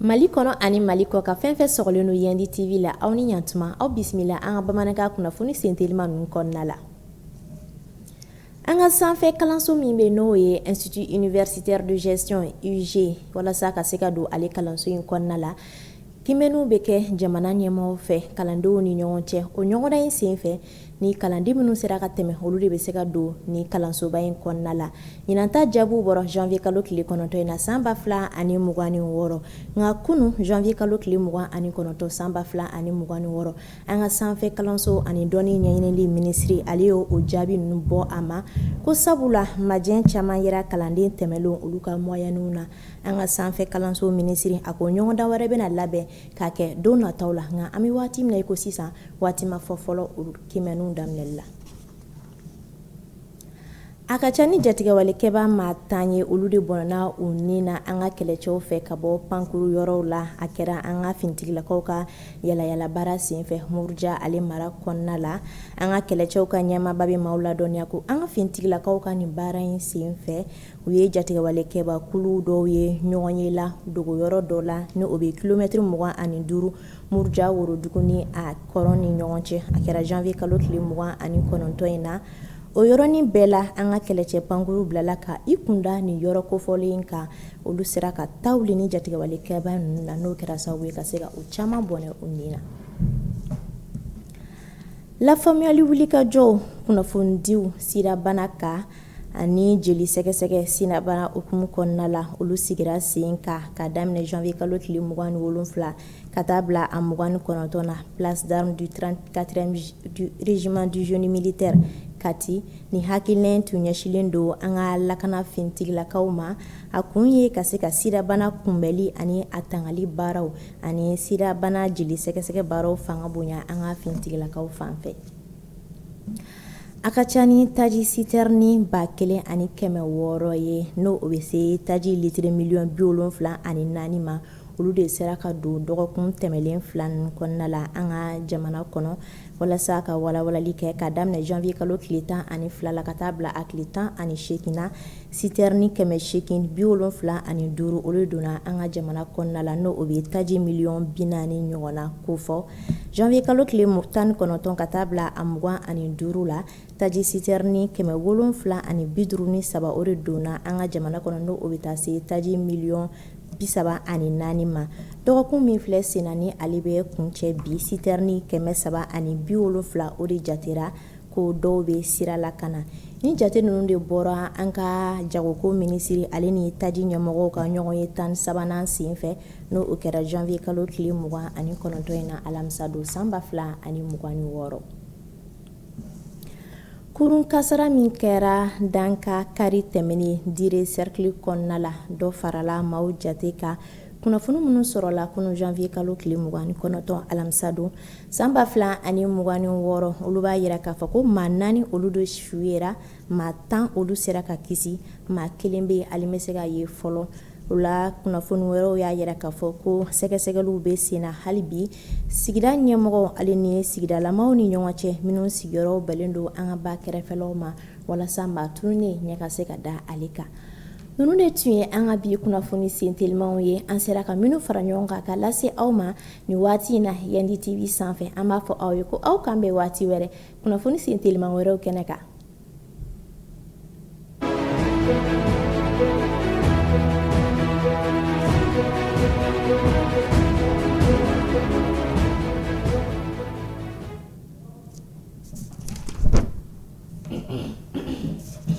Mali kɔnɔ ani mali kɔkan fɛn fɛn sɔgɔlen don yandi TV la aw ni ɲantuma aw bisimila an ka bamanankan kunnafoni sentelima ninnu kɔnɔna la an ka sanfɛ kalanso min bɛ n'o ye Institut Universitaire de Gestion IUG walasa ka se ka don ale kalanso in kɔnɔna la Kiimɛniw bɛ kɛ jamana ɲɛmɔgɔw fɛ kalandenw ni ɲɔgɔn cɛ o ɲɔgɔndan in senfɛ ni kalanden minnu sera ka tɛmɛ olu de bɛ se ka don ni kalansoba in kɔnɔna la ɲinanta jaabiw bɔra janvier kalo tile kɔnɔntɔn in na san ba fila ani mugan ni wɔɔrɔ nka kunun janvier kalo tile mugan ani kɔnɔntɔn san ba fila ani mugan ni wɔɔrɔ an ka sanfɛ kalanso ani dɔnni ɲɛɲinili minisiri ale y' o jaabi ninnu bɔ a ma ko sabu la majɛ caman yera kalanden tɛmɛnlen olu ka mɔyɛniw na an ka sanfɛ kalanso minisiri a ko ɲɔgɔndan wɛrɛ bɛna labɛn k'a kɛ don nataw la nka an bɛ waati min na i ko sisan waati ma fɔ fɔlɔ olu kiimɛniw daminɛli la a ka ca ni jatigɛwalekɛbaa maa tan ye olu de bɔnna u ni na an ka kɛlɛcɛw fɛ ka bɔ pankuru yɔrɔw la a kɛra an ka finitigilakaw ka yalayala baara senfɛ muruja ale mara kɔnɔna la an ka kɛlɛcɛw ka ɲɛmaaba bɛ maaw ladɔnniya ko an ka finitigilakaw ka nin baara in senfɛ U ye jatigɛwalekɛbakulu dɔw ye ɲɔgɔnye la dogoyɔrɔ dɔ la ni o bɛ kilomɛtiri mugan ani duuru muruja worodugu ni a kɔrɔn ni ɲɔgɔn cɛ a kɛra janvier kalo tile mugan ani kɔnɔntɔn in na o yɔrɔnin bɛɛ la an ka kɛlɛcɛ pankuru bilala ka i kunda ni yɔrɔ kofɔlen in kan olu sera ka ta wuli ni jatigɛwalekɛba ninnu na n'o kɛra sababu ye ka se ka u caman bɔnɛ u ni na lafaamuyali wulikajɔw kunnafonidiw sidabana kan ani jeli sɛgɛsɛgɛ sidabana hukumu kɔnɔna la olu sigira sen kan ka daminɛ janvier kalo tile mugan ni wolonwula ka taa bila a mugan ni kɔnɔntɔn na place d'armes du 34e régiment du génie militaire Kati nin hakilina in tun ɲɛsilen don an ka lakana finitigilakaw ma a kun ye ka se ka sidabana kunbɛli ani a tangali baaraw ani sidabana jeli sɛgɛsɛgɛ baaraw fanga bonya an ka finitigilakaw fan fɛ A ka ca ni taji sitɛrɛni ba kelen ani kɛmɛ wɔɔrɔ ye n'o o bɛ se taji litiri miliyɔn bi wolonwula ani naani ma olu de sera ka don dɔgɔkun tɛmɛnlen fila nin kɔnɔna la an ka jamana kɔnɔ walasa ka walawalali kɛ ka daminɛ janvier kalo tile tan ani fila la ka taa bila a tile tan ani segin na sitɛrɛni kɛmɛ segin bi wolonwula ani duuru olu donna an ka jamana kɔnɔna la n' o bɛ taji miliyɔn bi naani ɲɔgɔnna kofɔ Janvier kalo tile 19 ka taa bila a 25 la taji siterni 753 o de donna an ka jamana kɔnɔ n'o bɛ taa se taji miliyɔn 34 ma dɔgɔkun min filɛ sen na ni ale bɛ kuncɛ bi siterni 370 o de jatera ko dɔw bɛ sira la ka na ni jate ninnu de bɔra an ka jagoko minisiri ale ni taji ɲɛmɔgɔw ka ɲɔgɔnye 13 nan senfɛ. N'o kɛra janvier kalo tile 29 in na alamisa don san 2026, kurun kasara min kɛra Danga kari tɛmɛnen Diré cercle kɔnɔna la, dɔ farala maaw jate kan, kunnafoni minnu sɔrɔla kunun janvier kalo tile 29 alamisa don san 2026, olu b'a yira k'a fɔ ko maa naani olu de su yera maa tan olu sera ka kisi maa kelen bɛ ale ma se ka ye fɔlɔ o la kunnafoni wɛrɛw y'a yira k'a fɔ ko sɛgɛsɛgɛliw bɛ sen na hali bi sigida ɲɛmɔgɔ ale ni yen sigidalamaw ni ɲɔgɔn cɛ minnu sigiyɔrɔ bɛnnen don an ka ba kɛrɛfɛlaw ma walasa maa tununnen ɲɛ ka se ka da ale kan ninnu de tun ye an ka bi kunnafoni sentelimanw ye an sera ka minnu fara ɲɔgɔn kan ka lase aw ma nin waati in na Yandi TV sanfɛ an b'a fɔ aw ye ko aw k'an bɛn waati wɛrɛ kunnafoni senteliman wɛrɛw kɛnɛ kan